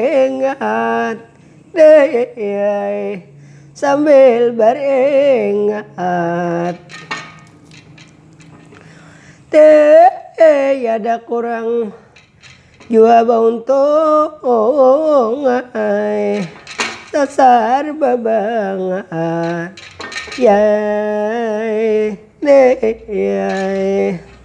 Ingat sambil beringat Tiada kurang jua bauntung Dasar babangat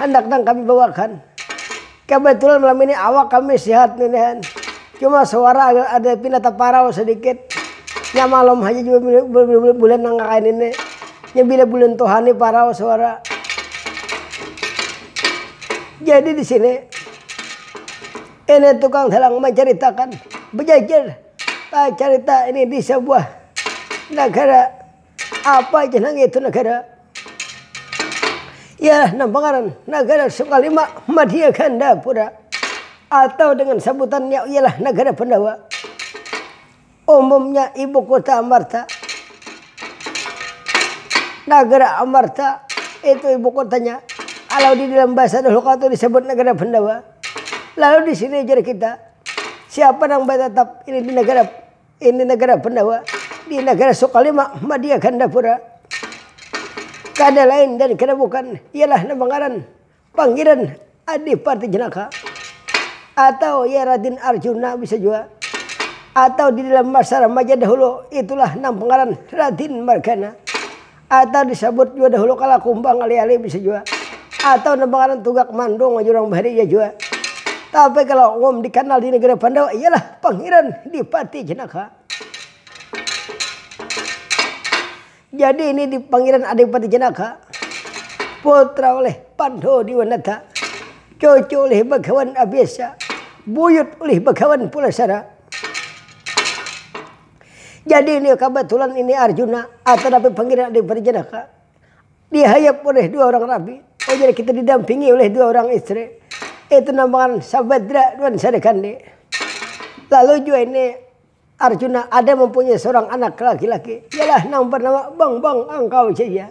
Handak nang kami bawakan. Kabatulan malam ini awak kami sihat ninihan. Cuma suara agak ada pina taparau sadikit. Nya malam haja jua bila bulan nang kaya ini. Nya bila bulan tuha ni parau suara. Jadi di sini ini tukang dalang mancaritakan, bajajar carita ini di sabuah nagara. Apa aja nang itu negara? Ialah nang pangaran Nagara Sukalima Madya Gandapura atau dengan sabutannya ialah Nagara Pandawa. Umumnya ibu kota Amarta. Nagara Amarta itu ibu kotanya. Kalau di dalam bahasa dahulu kala itu disebut Nagara Pandawa. Lalu di sini ujar kita, siapa nang batatap ini di Nagara Ini nagara Pandawa di nagara Sukalima Madia Gandapura. Kada lain dan kada bukan ialah nama ngaran pangiran Adipati Jenaka atau ya Radin Arjuna bisa jua atau di dalam masa remaja dahulu itulah nang pangaran Radin Margana Atau disabut jua dahulu kala kumbang ali-ali bisa jua. Atau nang bangaran tugak mandung wajah urang bahari ja jua. Tapi kalo umum dikanal di negara Pandawa ialah Pangiran Dipati Jenaka. Jadi ini di Pangiran Adipati Jenaka, putra ulih Pandu Diwanata, cucu ulih Bagawan Abisa, buyut ulih Bagawan Pulasara. Jadi ini kabatulan ini Arjuna atau dapat panggilan Adi Prajanaka dihayap oleh dua orang rabi. Oh jadi kita didampingi oleh dua orang istri. Itu namakan Sabadra dan Sarikandi. Lalu juga ini Arjuna ada mempunyai seorang anak laki-laki. Ialah nang bernama Bang Bang Angkau Jaya.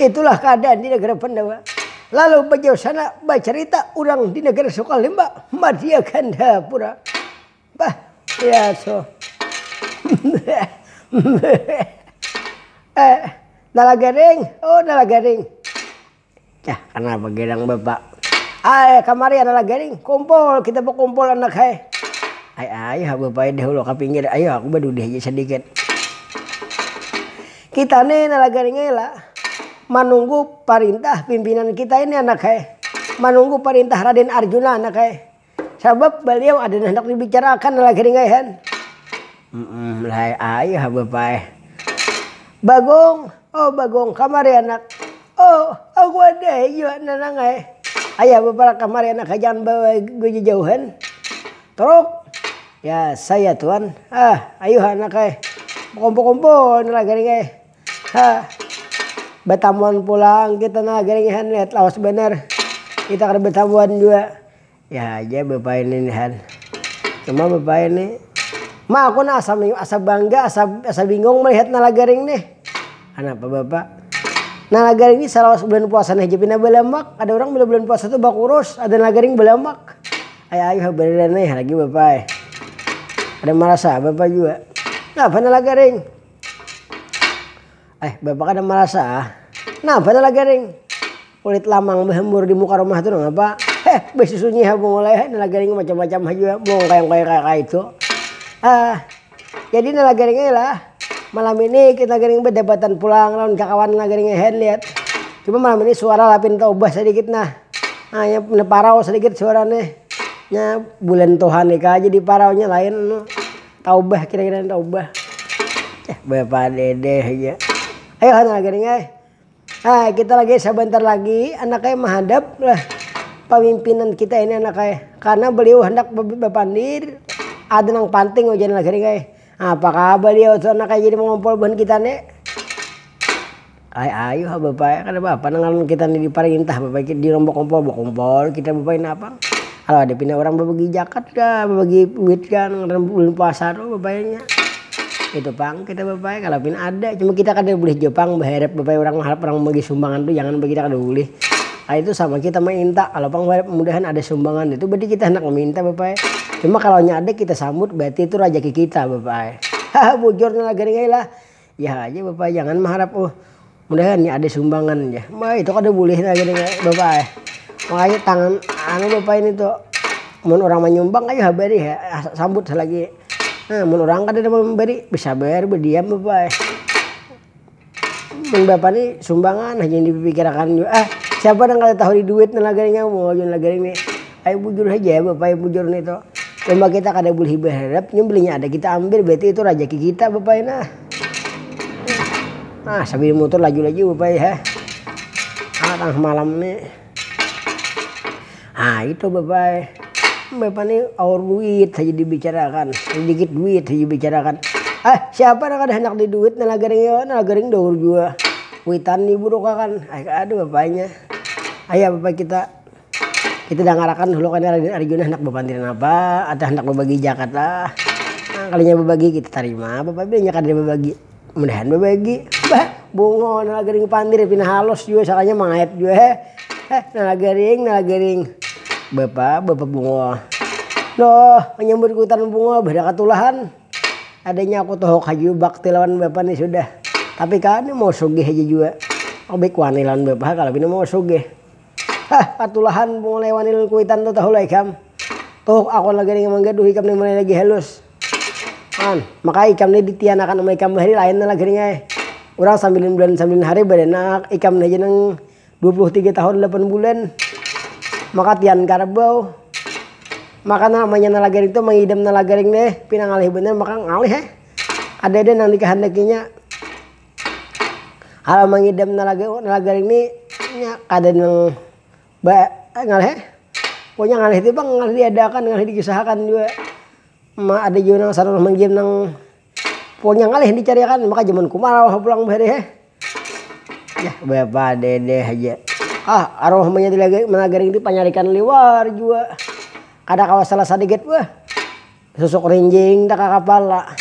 Itulah keadaan di negara Pandawa. Lalu bajauh sana bacarita urang di negara Sukalimba, Madya Gandhapura. Bah, ya so. eh, Nalagaring, oh Nalagaring. Cah, kenapa gerang bapak? Ay, kamari anak garing, kumpul, kita berkumpul anak hai. Ay, ayo bapak dahulu ke pinggir, ayo aku berdudih aja sedikit. Kita ne nalaga ningai la manunggu parintah pimpinan kita ini anak ai, manunggu parintah Raden Arjuna anak ai, sabab baliau ada handak dibicara akan nalaga ningai han. Mmm lai ai ha bapa ai. Bagong, oh Bagong kamari anak, oh aku ada ai jua nanang ai, ayo ha bapa lah kamari anak ai jangan bajauhan. Truk! Ya saya tuan, hah ayuha anak ai, bakumpul-kumpul ni lah gering ai, hah batamuan pulang kita nah gering ai han, lihat lawas banar kita kada batamuan jua, ya haja bapa ini ni han, cuma bapa ini ma aku nah asa asa bangga asa asa bingung malihat nala gering nih, kanapa bapa, nala gering nih salawas bulan puasa nih haja pina balamak, ada urang bila bulan puasa tu bakurus ada nala gering balamak. Ai ayuh ai bariran ai lagi bapa ai. Kada marasa bapa jua. Napa nah lagi ring. Ai bapa kada marasa ah. Napa nah lagi ring. Kulit lamang bahambur di muka rumah tu nangapa. Heh basusunyi ha bungul ai ha nah lagi ring macam macam ha jua bungul kaya kaya kaya kaya itu. Ah. Jadi nala garingai lah malam ini kita garing bedebatan pulang lawan kakawan nala garing ahead lihat cuma malam ini suara lah pinta ubah sedikit nah nah ya pinta parau sedikit suara nih nya bulan tuhan ikah jadi parau nya lain anu taubah kira kira taubah eh bapak dede haja ayo ha nala garing ai. Hai kita lagi sabantar lagi anak ai mahadap lah pamimpinan kita ini anak ai karena beliau handak bapandir ada nang panting ujar nang sining ai apa kah baliau tu anak ai jadi mangompol buhan kita ni ai ayu ha bapa ai kada papa nang ngaran kita ni diparintah bapa ikam di rombok kompol bakompol kita bapa ini napang. Kalo ada pina urang babagi jakat kah, babagi duit kah nang ngaran bulan puasa tu babainya. Itu pang kita babai kalo pina ada, cuma kita kada bulih jua pang baharap babai urang baharap urang bagi sumbangan tu jangan bagi kita kada bulih. Kaya itu sama kita mainta kalo pang baharap mudahan ada sumbangan itu berarti kita handak maminta babai. Cuma kalo nya ada kita sambut berarti itu rajaki kita babai. Haha bujur nang lagar ngilah, Jar aja bapa ai jangan maharap uh mudahan nih ada sumbangan jar. Bah itu kada bulih nah gini bapa ai. Makanya tangan anu bapa ini tu mun urang manyumbang ayu ha bari ha sambut selagi nah mun urang kadada mambari besabar bediam bapa ai. Mun bapa nih sumbangan haja yang dipikirakan jua ah siapa nang kada tahu di duit nang lagaring amu wahini lagaring nih. Payah bujur haja ya bapa ya bujur nih tu. Cuma kita kada bulihi baharap nya belinya ada kita ambil berarti itu rajaki kita bapa ai nah. Nah sambil mutur laju laju bapa ai ha. Nah tangah malam nih. Nah itu bapa ai. Bapa nih aur duit haja di bicarakan, sedikit duit haja di bicarakan. Ah siapa nang kada handak di duit nang lagaring yo nang lagaring daur jua kuitan di buruk akan. Aduh bapa ai nya. Ayaa bapa kita. Kita dangar akan dahulu kani Arjuna handak bapandir napa atau handak babagi jakat lah. Nah kalinya babagi kita tarima bapak ibu inya kada babagi. Mudahan babagi. Bah bungo nala gering pandir pina halus jua sakalinya mangayat jua he he nala gering nala gering. Bapa, bapa bungo. Loh manyambut kuitan bungo bah ada katulahan. Adanya aku tuhuk haja jua bakti lawan bapa ni sudah. Tapi kani mau sugih haja jua. Lebih wani lawan bapa ha kalo pina mau sugih. Hah katulahan mulai wani lalu kuitan tu tahu lah ikam. Tuhuk aku lagi nih mangga duh ikam nih mulai lagi halus. An, maka ikam nih ditianakan ama ikam bahari lain nah lagi nih ai. Urang sambilan bulan sambilan hari baranak, ikam nih haja nang dua puluh tiga tahun lapan bulan. Maka tian karbau. Maka namanya nalagaring tu mangidam nalagaring nih pina ngalih banar maka ngalih ai. Kadada nang dikahandakinya. Kalo mangidam nalaga-nalaga ini nya kada nang ba ngalih pokonya ngalih tu pang ngalih diadakan ngalih dikisahakan jua ma ada jua nang sarulah mangidam nang pokonya ngalih dicari akan maka jaman kumarau ha pulang bahari he yah bapadede haja ah arwah munya nalaga ini panyarikan liwar jua kada kawa salah sadikit weh. Susuk rinjing da kakapala.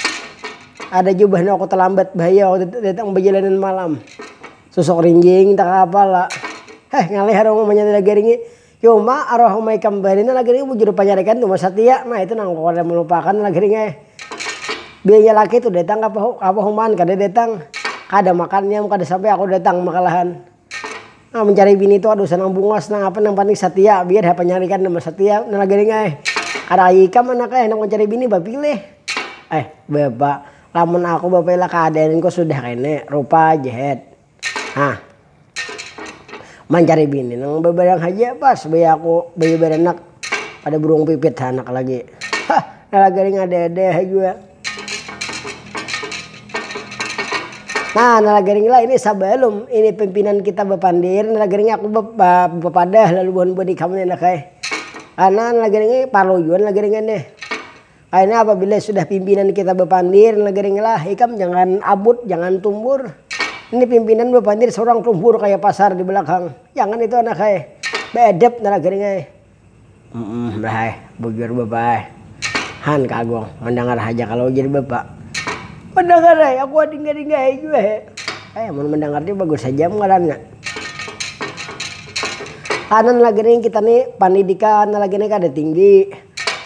Ada jua bah nang aku talambat bahaya waktu itu datang bajalanan malam. Susuk rinjing da kakapala. Heh ngalih arwah mamanya tu lagi ringi. Cuma arwah uma ikam bahari ni lagi ringi bujur di panyarikan tu satia. Nah itu nang aku kada malupakan lagi ringi ai. Bininya laki tu datang ka apa humaan kada datang. Kada makan inya kada sampai aku datang makalahan. Nah mencari bini tu aduh senang bungas nang apa nang penting setia biar ha penyaring kan nang setia nang lagi ring ai ada ai ikam anak ai handak mencari bini bapilih eh bapak lamun aku bapela keadaan ku sudah kene rupa aja het hah mencari bini nang bebarang haja pas baya aku baya beranak kada burung pipit hanak lagi hah nang lagi ring ada ada ha jua. Nah nala garing lah ini sabalum ini pimpinan kita bapandir nala garing aku bapadah lalu buhan buhan ikam ni handak ai. Karna nala garing ai parlu jua nala garing ai nih. Akhirnya apabila sudah pimpinan kita bapandir nala garing lah ikam jangan abut jangan tumbur, ini pimpinan bapandir saurang tumbur kaya pasar di balakang jangan itu handak ai, beedep nala garing ai. Umh bah ai, bujur bapa ai. Han ka Agung, mandangar haja kalo ujar bapa. Mandangar ai, aku adingga-dinggahi jua he. Eh, mun mandangar ni bagus haja am ngarannya. Kanan lagi ni kita ni pandidikan lagi ni kada tinggi,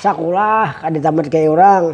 sakulah kada tamat kaya urang.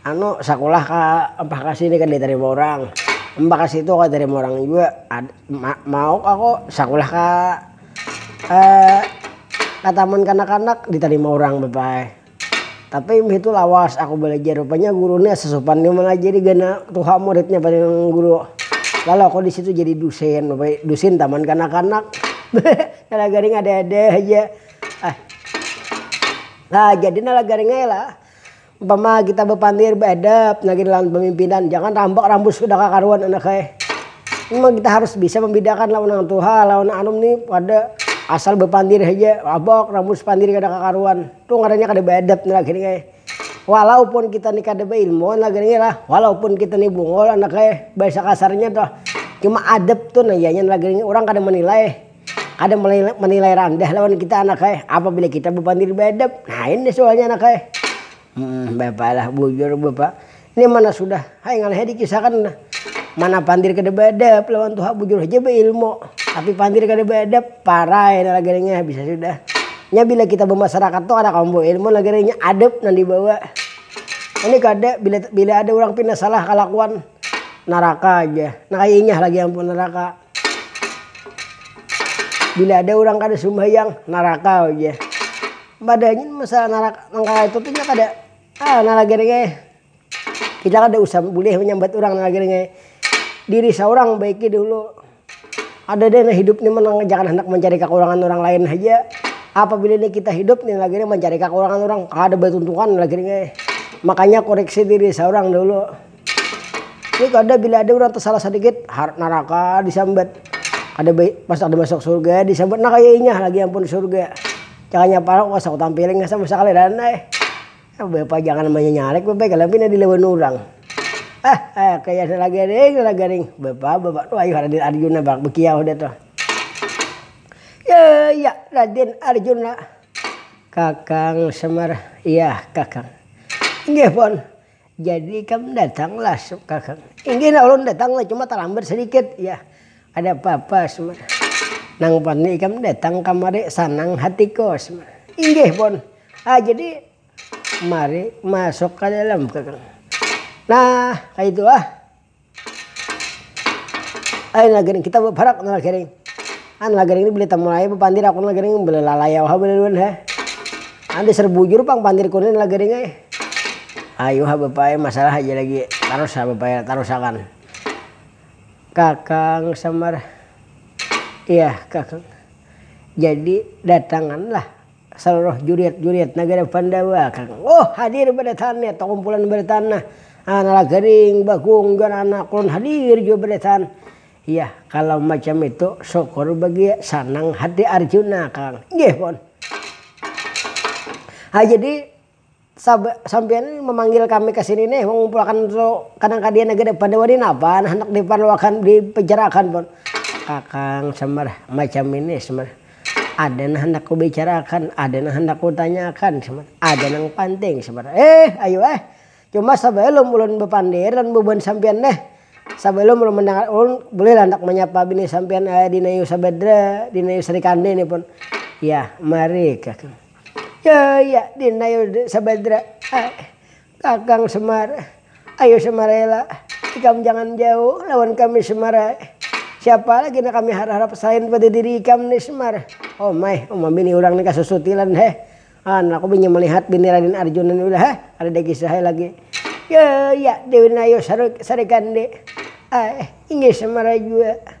anu sakulah ka mpah ka sini kada ditarima urang, mpah ka situ kada ditarima urang jua, ad ma mau aku sakulah ka ka taman kanak-kanak ditarima urang bapak ai, tapi imbah itu lawas aku balajar rupanya guru ni asa supan jua mangajari ganal tuha muridnya paling guru, lalu aku disitu jadi dusin bapak dusin taman kanak-kanak nala garing ada-ada haja ah, nah jadi nala garing ai lah. Umpama kita bapandir baadab lagi lawan pamimpinan, jangan rambak rambut sudah kakaruan anak ai. Memang kita harus bisa mambidakan lawan nang tuha lawan nang anum nih kada asal bapandir haja rabak rambus pandir kada kakaruan tuh ngarannya kada baadab nih lagi nih ai. Walaupun kita nih kada bailmuan lagi nih lah, walaupun kita nih bungul anak ai bahasa kasarnya tuh cuma adab tuh nang ianya lagi nih urang kada manilai Kada menilai randah lawan kita anak ai apabila kita bapandir beadab. Lain nih sualnya anak ai. Humm bapa lah bujur bapa nih mana sudah hai ngalih ai dikisahkan nah. Mana pandir kada beadab lawan tuha bujur haja beilmu tapi pandir kada beadab parai nah lagarinya habis sudah. Nya bila kita bamasarakat tu kada kawa membawa ilmu lagarinya adab nang dibawa. Ini kada bila ada urang pina salah kalakuan naraka haja. Nah kaya inyah lagi ampun naraka. Bila ada urang kada sumbahyang, naraka ujar. Padahal gin masalah naraka nang kaya itu tu inya kada ah nalagar nya eh. Kita kada usah bulih manyambat urang nalagar nya eh. Diri saurang baiki dulu. Ada deh nang hidup ni nang jangan handak mancari kakurangan urang lain haja. Apabila ni kita hidup ni nalagar nya mancari kakurangan urang, kada batuntungan nalagar nya eh. Makanya kuriksi diri saurang dulu. Ni kada bila ada urang tasalah sadikit, harat naraka disambat. Kada baik pas kada masuk surga disambat nah kaya inya lagi ampun surga. Cakanya pala kuasa kutampiling asa masakaliran ai. Bapajangan namanya nyarik bapa ikam pina dilawan urang. Ah ah kaya salah garing salah garing. Bapa bapa tu ayuh Raden Arjuna barak bakiyau dah tu. Ya ya Raden Arjuna. Kakang Semar, iyah kakang. Inggih pun, Jadi ikam datang lah suk kakak. Inggih nah ulun datang lah cuma talambat sadikit yah kada papa sma. Nang pasti ikam datang kamari sanang hatiku sma. Inggih pun ah jadi mari masuk kadalam kakak. Nah kaitu ah. Ai nagering kita baparak nagering. An nagering ni bila tamulai bapandir aku nagering bila lalayau ha balaluan ha. An dasar bujur pang pandir ku ni nagering ai. Ayu ha bapa ai masalah haja lagi tarus ha bapa ai tarus akan. Kakang samar, iyah kakang. Jadi datangan lah. Saluruh juriat-juriat nagara Pandawa kanggo hadir badataan ya takumpulan badataan nah nala garing bagung jar anak ulun hadir jua badataan ya kalau macam itu syukur bagi sanang hati Arjuna kang inggih pun ha jadi Sab, sampiyan ni mamanggil kami ka sini nih, mangumpulakan tu kadang ka diana gin, pada wani napa nah handak di parluakan, di picarakan pun. Kakang, sambar, macam ini sambar, ada nang handak ku bicarakan, ada nang handak ku tanyakan sambar, ada nang panting sambar, eh ayu eh, cuma sabalum ulun bapandir lawan bubuhan sampiyan nih, sabalum ulun mandangar, ulun bulih lah handak manyapa bini sampiyan, eh dinayu sabadra, dinayu sri kandi nih pun, yah mari kakang. Yaya din ayo sabadra ai kakang semar ayo semar rela ikam jangan jauh lawan kami semar ai siapa lagi nang kami harharap salain pada diri ikam ni semar omai uma bini urang ni kasusutilan heh an aku binya malihat bini raden arjuna ni heh kadada kisah ai lagi yaya din ayo sarikandi ai inggih semar ai jua.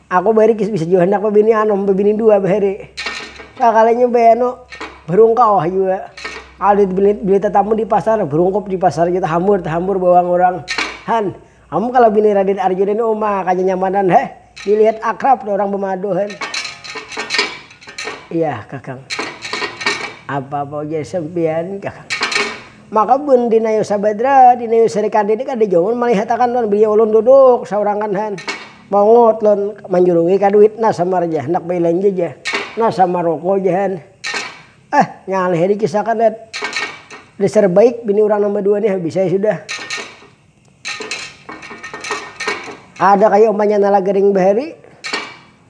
Aku barikis bisa jua handak babini anum, babini dua bahari. Sakalinya baanu, barungkau ha jua. Kada bini tatamu di pasar, barungkup di pasar ja tahambur tahambur bawang urang. Han, am kalo bini Raden Arjuna ni uma kanyanyamanan ha, dilihat akrab tu urang bamadu han. Iyah kakang, apa apa ujar sampiyan kakang. Maka bun Dinayu Sabadra, Dinayu Sarikandi ni kada jua ulun malihatakan tuhan, bininya ulun duduk saurang kan han. Mongot lon manjurungi ka duit nah samar ja handak bailanja ja nah samar roko ja han ah ngalih ai dikisahkan dat dasar baik bini urang nang badua nih habis ai sudah. Ada kaya umanya nala garing bahari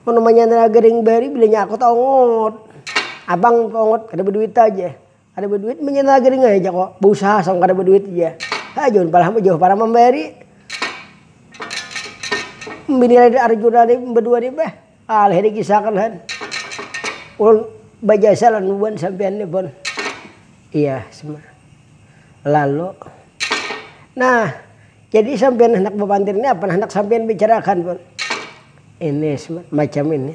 mun umanya nala garing bahari bilanya aku taongot abang taongot kada baduit aja. Kada baduit manyana gading ai jako bausaha asal kada baduit haja. Haa jauh palah am jauh parah mambayari. Bini lagi ari jurnal ni badua ni bah alih di kisah akan han. Ulun bajasa lan wan sampian ni pon. Iya sma. Lalu. Nah. Jadi sampiyan handak bapantir ni apa nang handak sampiyan bicarakan pun. Ini macam ini.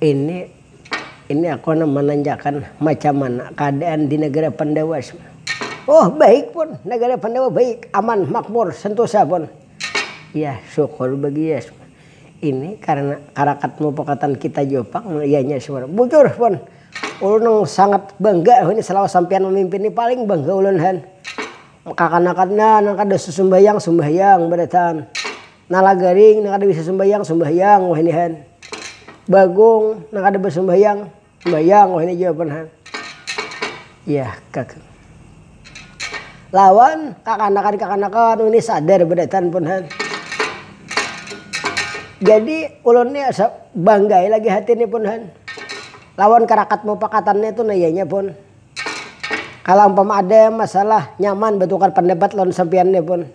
ini ini aku handak mananyakan macam mana keadaan di negara pandawa. Oh baik pun, negara pandawa baik, aman, makmur, sentosa pun. Yah syukur bagiya. Ini karena karakat mupakatan kita jua pang ianya. Bujur pun. Ulun nang sangat bangga wahini selama sampiyan mamimpin ni paling bangga ulun han. Kakanakan nya nang kada susumbayang sumbayang barataan. Nala garing nang kada bisa sumbayang sumbayang wahini han. Bagong nang kada basumbayang sumbayang wahini jua pan han. Yah kak. lawan kakanakan-kakanakan wini sadar berdatan pun ha. Jadi ulun ni asa bangga ai lagi hati ni pun ha lawan karakat mupakatan nya tu naya nya pun. Kalo umpama ada masalah nyaman batukar pandapat lawan sampiyan ni pun.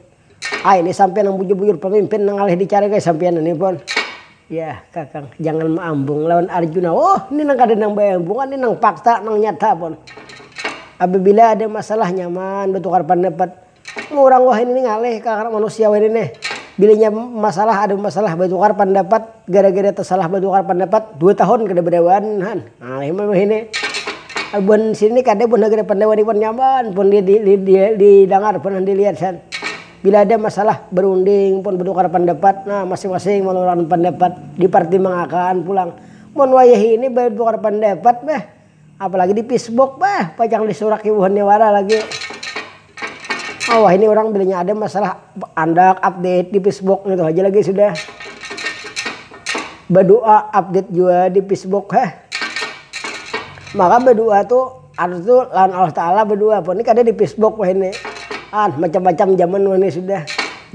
Ai nih sampian nang bujur-bujur pamimpin nang ngalih dicari guys sampian ini pun. Yah kakang, jangan maambung lawan Arjuna. Huh, ini nang kada nang baambungan nih nang fakta, nang nyata pun. Apabila ada masalah nyaman batukar pandapat. Urang wahini nih ngalih ka karna manusia wahini nih. Bila inya masalah ada masalah batukar pandapat gara-gara tasalah batukar pandapat dua tahun kada badawaan han. Amun sini kada buhan nagara pandawa nih wan nyaman pun di didangar pun dilihat san. Bila ada masalah berunding pun bertukar pandapat nah masing masing mengeluarkan pandapat dipartimbang akan pulang. Mun wayah ini bertukar pandapat beh apalagi di pisbuk beh pacang disuraki buhannya wara lagi. Awah ini urang bilanya ada masalah andak update di pisbok ngitu haja lagi sudah badua update jua di pisbok heh maka badua tu harus tu lawan Allah taala badua pun ni kada di pisbok wahini an macam-macam jaman wahini sudah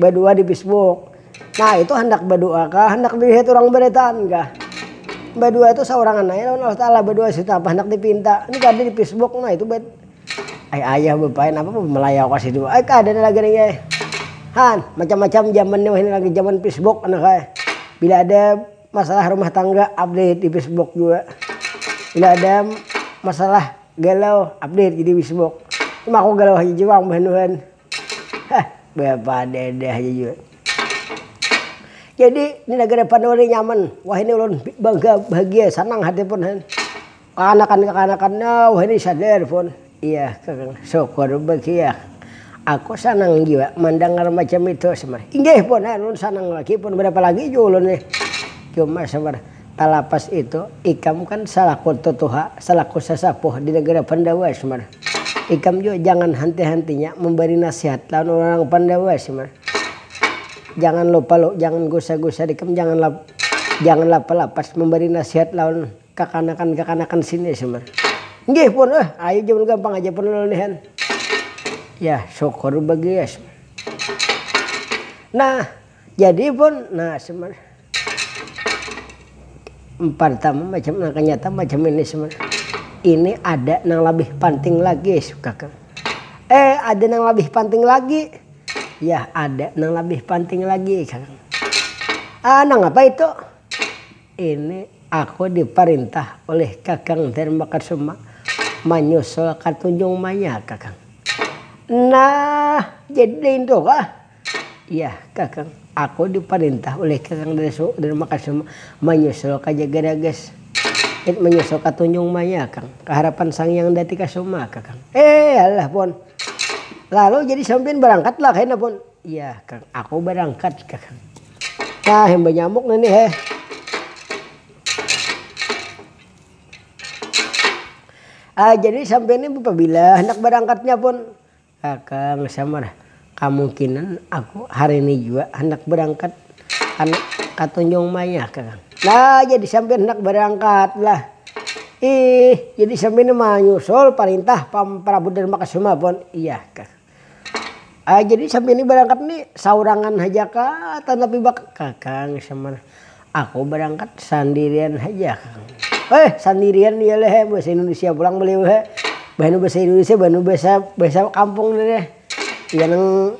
badua di pisbok nah itu handak badua kah handak dilihat urang baritaan kah badua tu saurangan aja lawan Allah taala badua sudah apa handak dipinta ni kada di pisbok nah itu. Ai ayah bapaya napa pang bamalayaw ka situ ai kada ada lagi nang ai. Han, macam macam jaman ni wahini lagi jaman pisbok anak ai. Bila ada masalah rumah tangga update di pisbok jua. Bila ada masalah galau update ja di pisbok. Cuma aku galau haja jua pang bahanuhan. Hah bapadada haja jua. Jadi di nagara panua ni nyaman, wahini ulun bangga, bahagia, sanang hati pun han. Kakanakan-kakanakannya wahini sadar pun. Iya kang, syukur bakia. Aku sanang jua mandangar macam itu samar. Inggih pun, ulun sanang lagi pun barapa lagi jua ulun nih. Cuma samar, talapas itu ikam kan salaku tutuha, salaku sasapuh di nagara Pandawa samar. Ikam jua jangan hanti-hantinya mambari nasihat lawan urang-urang Pandawa samar. Jangan lupa jangan gusar-gusar ikam jangan jangan lapas-lapas mambari nasihat lawan Kakanakan-kakanakan sini sambar, Nggih pun, eh ayu ja pun gampang haja pun ulun nihan. Yah syukur bagiya sambar. Nah jadi pun, nah sambar. Partama macam nang kanyata macam ini sambar, ini ada nang labih panting lagi jar kakang. Eh ada nang labih panting lagi, yah ada nang labih panting lagi kakang. Ah nangapa itu? Ini aku diparintah ulih kakang Dharmakasuma manyusul ka Tunjung Manyar kakang. Nah, jadi daintu kah? Iyah kakang, aku diparintah ulih kakang Dharmakasuma manyusul ka Jagarages. It manyusul ka Tunjung Manyar kang, ka harapan Sang Hyang Datikasuma kakang. Eeeh alah pun, lalu jadi sampiyan barangkat lah kena pun? Iyaah kang aku barangkat kah. Nah yang banyamuk nah nih heh. Ah jadi sampiyan nih bapabila handak barangkatnya pun? Kakang samar, kamungkinan aku hari nih jua handak barangkat ka katunjung maya kakang. Nah jadi sampiyan handak barangkat lah. Ih jadi sampiyan nih manyusul parintah pam prabu darmakasuma pun? Iyaah kah. Jadi sambil ni barangkat ni saurangan haja kah tatapi baka. Kakang Samar, aku barangkat sandirian haja kang. He sandirian iya leh he bahasa indonesia pulang beliau he bahanu bahasa indonesia bahanu bahasa bahasa kampung ni leh iya nang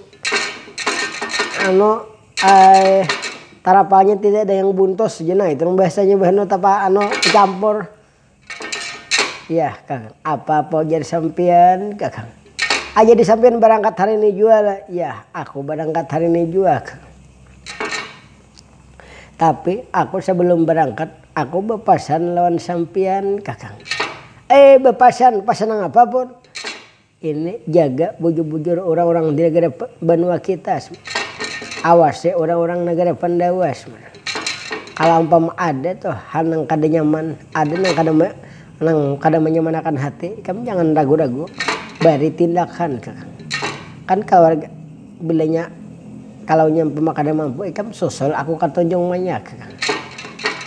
anu tarapanya tidak ada yang buntos jar nah itu nang bahasanya bahanu tapa anu tecampur. Yah kang, apapa ujar sampiyan kang. Ah jadi sampiyan barangkat hari ini jua lah. Yah aku barangkat hari ini jua kang. Tapi aku sabalum barangkat aku bapasan lawan sampiyan kang. Eh bapasan, pasan nangapa pun? Ini jaga bujur-bujur urang-urang di nagara banua kita. Awasi urang-urang nagara Pandawa. Kala umpama ada tu hal nang kada nyaman, ada nang kada nang kada manyamanakan hati ikam jangan ragu-ragu bari tindakan. Kan kaluarga. Bila nya kalau nya umpama kada mampu ikam susul aku ka Tanjung Manyak.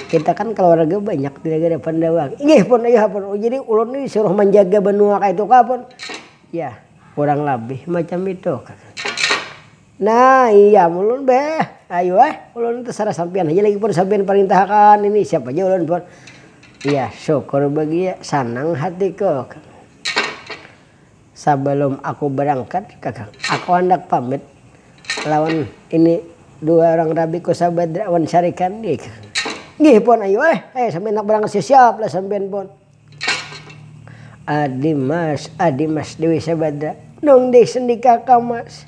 Kita kan kaluarga banyak di Nagara Pandawang. Inggih pun ayuha pun, oh jadi ulun ni disuruh manjaga banua kaitu kah pun? Yah kurang labih macam itu. Nah iya ulun beh ayu ai ulun ni tasarah sampiyan haja lagi pun sampiyan parintah akan ini siapa ja ulun pun. Yah syukur bagiya sanang hatiku. Sabalum aku barangkat kakang, aku handak pamit lawan ini dua urang rabiku Sabadra wan Sarikandi kakang. Nggih pon ayu ai, ai sambil handak barangkat siap-siap lah sampiyan pon. Adi mas, adi mas Dewi Sabadra, nungdih sendi kakang mas.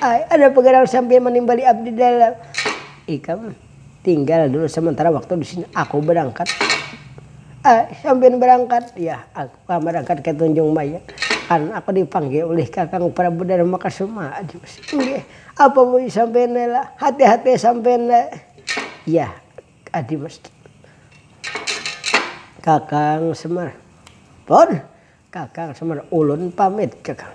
Ai, ada apa garang sampiyan manimbali abdi di dalam? Ikam tinggal dulu samantara waktu di sini, aku barangkat. Ai, sampiyan barangkat? Yah, aku kah barangkat ka Tanjung Mayang. Kan aku dipanggil ulih kakang Prabu Darmakasuma. Inggih, apa buyu sampiyan ne lah? Hati-hati sampiyan ne. Yah, Adimas. Kakang Semar. Pun, Kakang Semar ulun pamit kakang,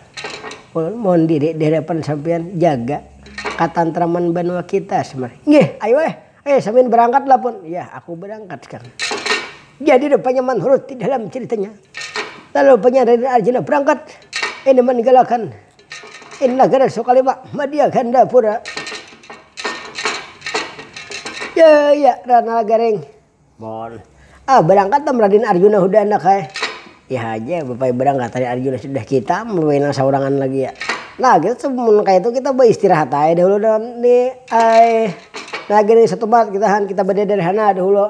ulun mohon diri di hadapan sampiyan jaga katantraman banua kita Semar, nggih ayu eh, eh samin berangkat lah pun, yah aku berangkat sekarang, jadi rupanya manurut di dalam ceritanya lalu rupanya Raden Arjuna berangkat ini meninggalkan ini nagara Sukaliwa madia Gandapura, ya ya Ranalagaring. Mohon. Ah, barangkat am Radin Arjuna hudah andak ai. Iya haja, bapaya barangkat Radin Arjuna sudah kita am bapaya nang saurangan lagi ya. Nah, kita tu mun kayatu kita baistirahat ai dahulu dalam ni ai. Nah, gini satumat kita han, kita badada di sana dahulu.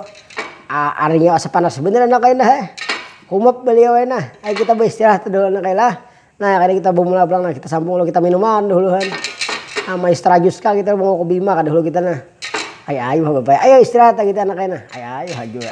Ah, arinyo asa panas banar andak ai nah ai. Humap baliau ai nah. Ayu kita baistirahat dahulu andak ai lah. Nah kada kita bamula pulang nah kita sambung lalu kita minuman dahuluhan nah maestra jus kah kita bawa kopi ma kada hulu kita nah ai ayuh bapak ai istirahat kita anak ai nah ai ayuh ha jua.